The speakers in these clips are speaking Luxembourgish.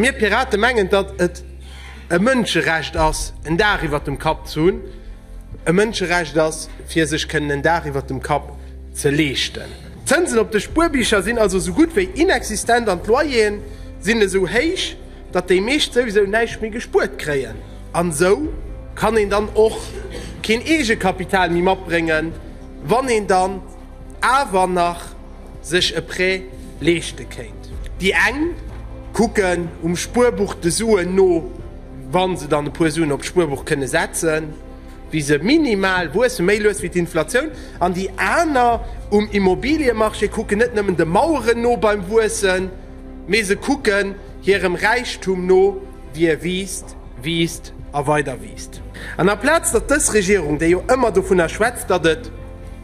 Mir Pirate mengen, datt et e Mënscherecht ass, en Daach iwwert dem Kapp ze hunn, e Mënscherecht ass, fir sech kënnen en Daach iwwert dem Kapp ze leeschten. D'Zënsen op de Spuerbicher sinn also esou gutt wéi inexistent an d'Loyeren sinn esou héich, datt déi meescht souwisou näischt méi gespuert kréien. An esou kann een dann och keen Eegekapital méi matbréngen, wann een dann. awer nach sech e Prêt leeschte kéint. Déi eng kucken um Spuerbuch de Suen no, wa se dann e puer Suen op d'Spuerbuch kënne setzen, wéi se minimal wuessen, méi lues wéi d'Inflatioun, an déi aner um Immobiliemarché kucken net nëmmen de Maueren no beim Wuessen, mee se kucken hirem Räichtum no, wéi e wiisst, wiisst a weider wiisst. An aplaz datt dës Regierung, déi jo ëmmer dovunner schwätzt, datt et.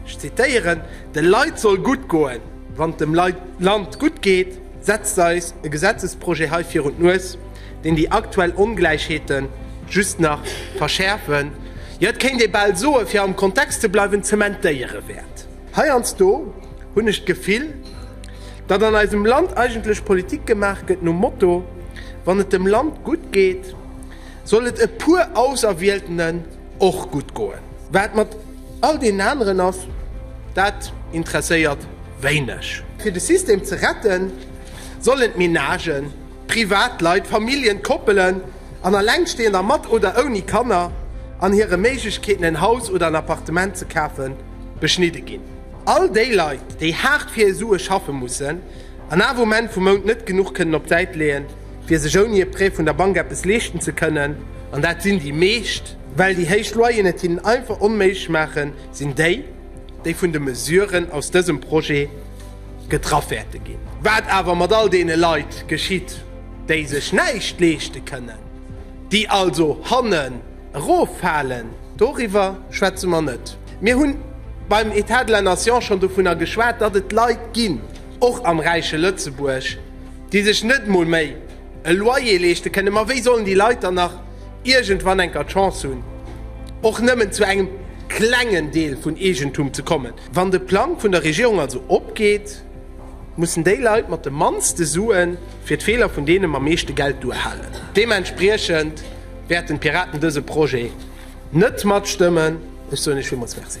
Ech zitéieren, De Leit soll gutt goen. Wann et dem Land gutt geet, setzt eis e Gesetzesprojet hei virun d'Nues, deen déi aktuell Ongläichheete just nach verschäerfen, jo et kéint ee bal soen, fir am Kontext ze bleiwen, zementéiere wäert. Heiansdo hunn ech d'Gefill, datt an eisem Land eigentlech Politik gemaach gëtt nom Motto, Wann et dem Land gutt geet, Soll et e puer Auserwieltenen och gutt goen. Wat mat all deenen aneren ass, dat interesséiert wéineg. Fir de System ze retten, sollen d'Menagen, d'Privatleit, d'Familljen, d'Koppelen an Allengsteender mat oder ouni Kanner an hire Méiglechkeeten en Haus oder en Appartement ze kafe beschnidde ginn. All déi Leit, déi haart fir hir Sue schaffe mussen an awer um Enn vum Mount net genuch kënnen op d'Säit leeën, fir sech ouni e Prêt vun der Bank eppes leeschten ze kënnen, an dat sinn déi meescht, well déi héich Loyeren et hinnen einfach onméiglech maachen, sinn déi, déi vun de Mesuren aus dësem Projet getraff wäerte ginn. Wat awer mat all deene Leit geschitt, déi sech näischt leeschte kënnen, déi also hannen eroffalen, doriwwer schwätze mer net. Mir hunn beim État de la nation schonn dovunner geschwat, datt et Leit ginn, och am räiche Lëtzebuerg, déi sech net emol méi e Loyer leeschte kënnen, ma wéi sollen déi Leit dann nach iergendwann enker d'Chance hunn, och nëmmen zu engem klengen Deel vun Eegentum ze kommen? Wann de Plang vun der Regierung also opgeet, mussen déi Leit mat de mannste Sue fir d'Feeler vun deene mam meeschte Geld duerhalen. Deementspriechend wäerten d'Piraten dëse Projet net matstëmmen. Ech soen Iech villmools Merci.